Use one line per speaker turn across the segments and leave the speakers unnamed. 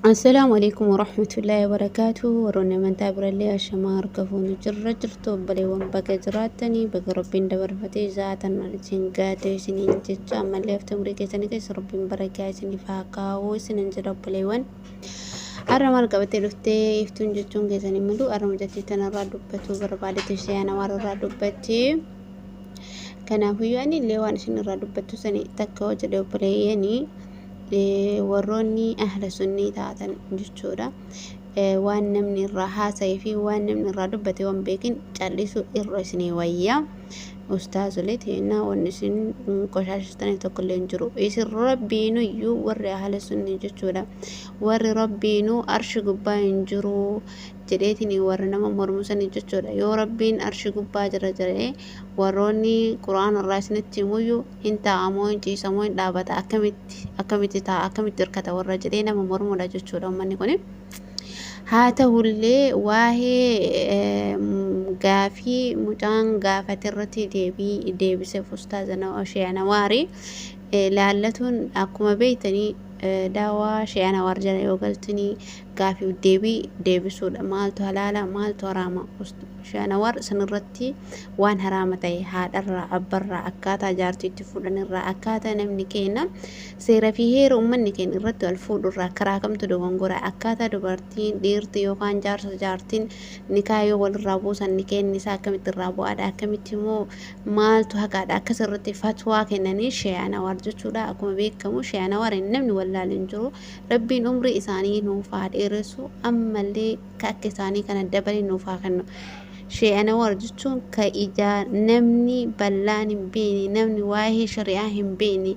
Assalaamu alaikum warahmatullahi wabarakaatu warroonni amantaa birallee ashamaa harka fuunu jirra jirtu obboleewwan baga jiraattanii baga rabbiin dabarfatee zaatan isin gaatee isiniin jecha ammallee hafte umurii keessanii keessa rabbiin barakaa isiniif haa kaa'uu isinin jedha obboleewwan har'a maal qabattee dhuftee iftuun jechuun keessanii mul'u har'a mucattii tanarraa dubbachuu barbaadetti ishee ana warrarraa dubbachee kanaafuu yoo ani illee waan isin irraa dubbachuu sanii takka hojjedhe obboleeyyanii warroonni ahla sunnii taatan jechuudha waan namni irraa haasa'ee fi waan namni irraa dubbate waan beekin callisuu irra isinii wayya ustaazolee teennaa waan isin qoshaashistanii tokkollee hin jiru isin rabbiinuyyuu warri ahla sunnii jechuudha warri rabbiinuu arshi gubbaa hin jiru jedheetiin warra nama mormusanii jechuudha yoo rabbiin arshi gubbaa jira jedhee warroonni quraan irraa isinitti himuyyuu Hin taa'a moo hin ciisa moo hin dhaabata akkamitti akkamitti taa'a akkamitti hirkata warra jedhee nama mormuudha jechuudha ummanni kuni. Haa ta'ullee waa'ee gaafii mucaan gaafate irratti deebii deebiseef ustaaza Sheekh Anawaari laallatuun akkuma beektanii daawaa Sheekh Anawaar jala yoo galtanii gaafii fi deebii deebisuudha. Maaltu halaala, maaltu haraama? Shaanawar sanirratti waan haraama ta'e haadharraa, abbarraa, akkaataa jaartii itti fuudhanirraa, akkaataa namni keenya seera fi heera uummanni keenya irratti wal fuudhurraa karaa kamtu dogongora, akkaataa dubartiin, dhiirti yookaan jaarsa jaartiin nikaa yoo walirraa buusan nikeenni isaa akkamitti irraa bu'aadha, akkamitti immoo maaltu haqaadha akkas irratti fatwaa kennanii shaanawar jechuudha. Akkuma beekamu shaanawar namni wallaalu hin jiru. Rabbiin umrii isaanii nuuf haa dheeressu ammallee ka akka isaanii kana dabalee nuuf haa kennu. Shee Anawar jechuun ka ijaa namni ballaan hin beekne, namni waa'ee shari'aa hin beekne,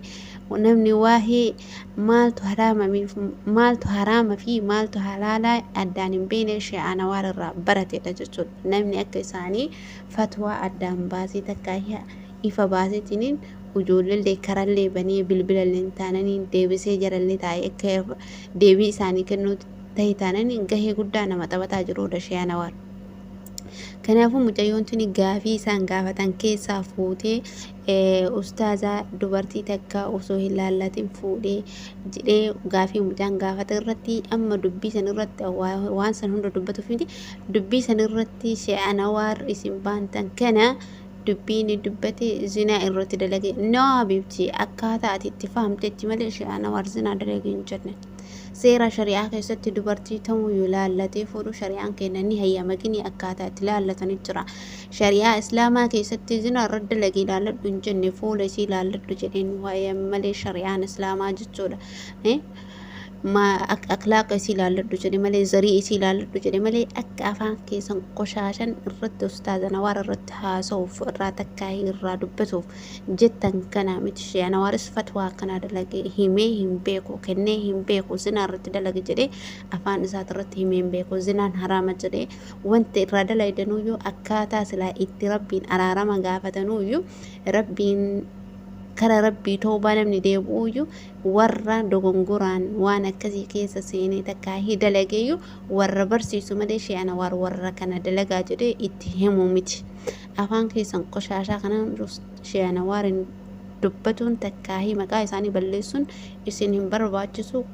namni waa'ee maaltu haraamamiif, maaltu haraama fi maaltu halaalaa addaan hin beekne Shee Anawar irraa baratedha jechuudha. Namni akka isaanii fatwaa addaan baasee takkaa ifa baasetiniin ujoolleellee karallee banee bilbilalleen taananiin deebisee jarallee taa'ee akka deebii isaanii kennuu ta'e taananiin gahee guddaa nama taphataa jiru Dashee Anawaar. Kanaafuu mucayyoon tuni gaafii isaan gaafatan keessaa fuutee ustaazaa dubartii takka osoo hin laallatin fuudhee jedhee gaafii mucaan gaafate irratti amma dubbii san irratti waan san hunda dubbatuuf miti dubbii san irratti shee'anawaar isin baantan kana dubbii inni dubbate zinaa irratti dalage no habibti akkaataa ati itti fahamtetti malee shi'aana war zinaa dalage hin jenne seera shari'aa keessatti dubartii tamuu yoo laallatee fuudhu shari'aan keenya ni hayyama gini akkaataa itti laallatanii jira shari'aa islaamaa keessatti zinaa irra dalage laalladhu hin jenne fuula isii laalladhu jedheen waa'ee malee shari'aan islaamaa jechuudha maa ak- akhlaaqa isii laalladhu jedhe malee zarii isii laalladhu jedhe malee akka afaan keessan qoshaashan irratti ustaaza nawaar irratti haasa'uuf irraa takkaahii irraa dubbatuuf jettan kanaa miti shee anawaaris fatwaa akkanaa dalage himee hin beeku kennee hin beeku zinaa irratti dalage jedhee afaan isaati irratti himee hin beeku zinaan haraama jedhee wanti irraa dalaydanuyyuu akkaataa silaa itti rabbiin araarama gaafatanuyyuu rabbiin kara rabbii toobaa namni deebi'uyyuu warra dogongoraan waan akkasii keessa seenee takkaa hi dalageeyyuu warra barsiisu malee Shee Anawaar warra kana dalagaa jedhee itti himuu miti. Afaan keessan qoshaashaa kanaan Shee Anawaarin dubbatuun takkaa hi maqaa isaanii balleessuun isin hin barbaachisu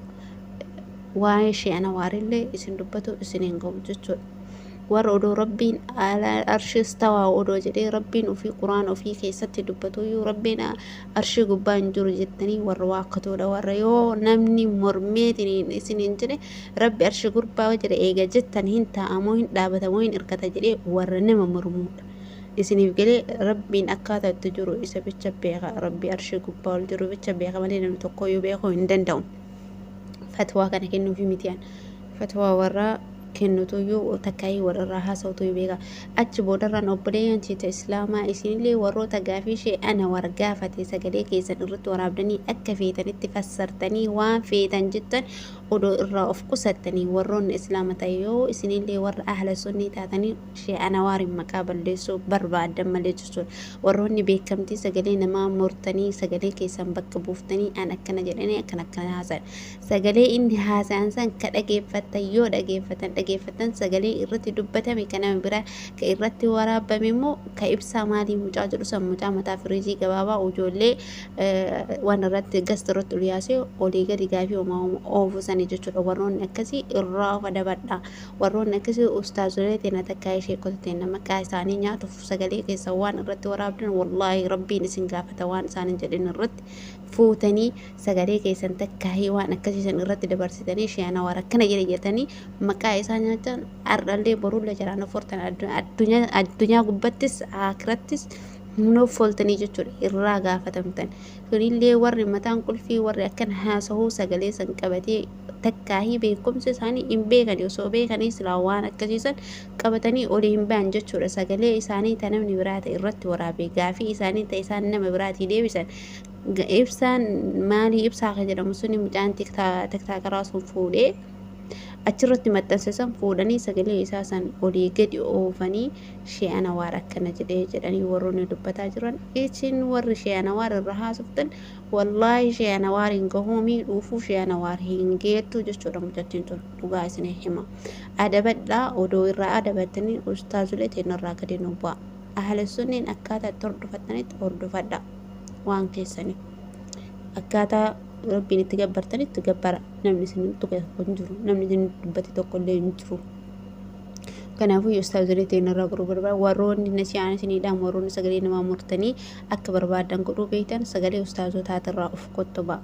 waa'ee Shee Anawaarillee isin dubbatu isin hin ga'u jechuudha. warra odoo rabbiin arshis tawaa odoo jedhee rabbiin ofii quraan ofii keessatti dubbatuyyuu rabbiin arshii gubbaa hin jiru jettanii warra waakkatoodha warra yoo namni mormeetiin isin hin jedhe rabbi arshii gurbaa jira eega jettan hin taa'amoo hin dhaabatamoo hin irkata jedhee warra nama mormuudha isiniif galee rabbiin akkaataa itti jiru isa bicha beeka rabbi arshii gubbaa ol jiru bicha beeka malee namni tokko yoo beekuu hin danda'u fatwaa kana kennuufi mitiyaan fatwaa warraa kennutuyyuu takkaayii warrarraa haasawtuyyuu beeka achi boodarraan obboleeyyan teeta islaamaa isinillee warroota gaafii shee ana war gaafate sagalee keessan irratti waraabdanii akka feetanitti fassartanii waan feetan jettan odoo irraa of qusattanii warroonni islaama ta'e yoo isinillee warra ahla sunnii taatanii shee ana waariin maqaa balleessuu barbaaddan malee jechuun warroonni beekamtii sagalee namaa mortanii sagalee keessan bakka buuftanii an akkana jedhanii akkana akkana haasan Sagalee inni haasa'an san ka dhageeffattan yoo dhageeffatan dhageeffattan sagalee irratti dubbatame ka nama biraa ka irratti waraabame immoo ka ibsaa maalii mucaa jedhu san mucaa mataa firiijii gabaabaa ujoollee waan irratti gasta irratti ol yaasee olii gadi gaafii homaa oofu sani jechuudha warroonni akkasii irraa of adabadha warroonni akkasii ustaazolee teena takkaa ishee kota teena maqaa isaanii nyaatuuf sagalee keessa waan irratti waraabdan wallaahi rabbiin isin gaafata waan isaanin jedhin irratti fuutanii sagalee keessan takkaahii waan akkasii san irratti dabarsitanii sheenawar akkana jedhe jetanii maqaa isaa nyaatan ardhallee borullee jalaa noffortan addunyaa gubbattis akirattis noffoltanii jechuudha irraa gaafatamtan kunillee warri mataan qulfii warri akkan haasahuu sagalee san qabatee takkaahii beekumsa isaanii hin beekani osoo beekanii silaa waan akkasiisan qabatanii olii hin ba'an jechuudha sagalee isaanii ta namni biraa ta'e irratti waraabee gaafii isaanii ta isaan nama biraatii deebisan Ibsaan maalii ibsaa kan jedhamu suni mucaan tiktaakaraa sun fuudhee achirratti maxxanse san fuudhanii sagalee isaa san olii gadi oofanii shee anawaar akkana jedhee jedhanii warroonni dubbataa jiran isin warri shee anawaar irra haasoftan wallaahi shee anawaar hin gahuu miidhuufuu shee anawaar hin geettu jechuudha mucattiin tun dhugaa isin hima adabadhaa odoo irraa adabattanii ustaazulee teenarraa gadi nu bu'a ahalesunniin akkaataa itti hordofattanitti hordofadhaa. waan keessanii akkaataa rabbiin itti gabbartan itti gabbara namni isin tuqe tokko hin jiru namni isin dubbate tokko illee hin jiru kanaafuu ustaazolee ta'in irraa godhuu barbaada warroonni nasi'aan isiniidhaan warroonni sagalee namaa murtanii akka barbaadan godhuu beektan sagalee ustaazotaati irraa of kottobaa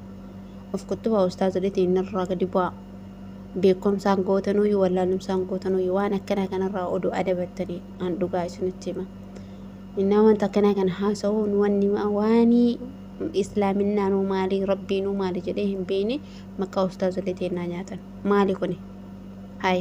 of kottobaa ustaazolee ta'in irraa gadi bu'aa beekumsaan gootanuu yoo wallaalumsaan gootanuu yoo waan akkanaa kanarraa oduu adabattanii an dhugaa isinitti hima. Naman takkanaa kan haasawuun wanni waanii islaaminnaanuu maalii rabbiinuu maali jedhee hin beeyne maqaa ustaazolee teennaa nyaatan maali kuni hay.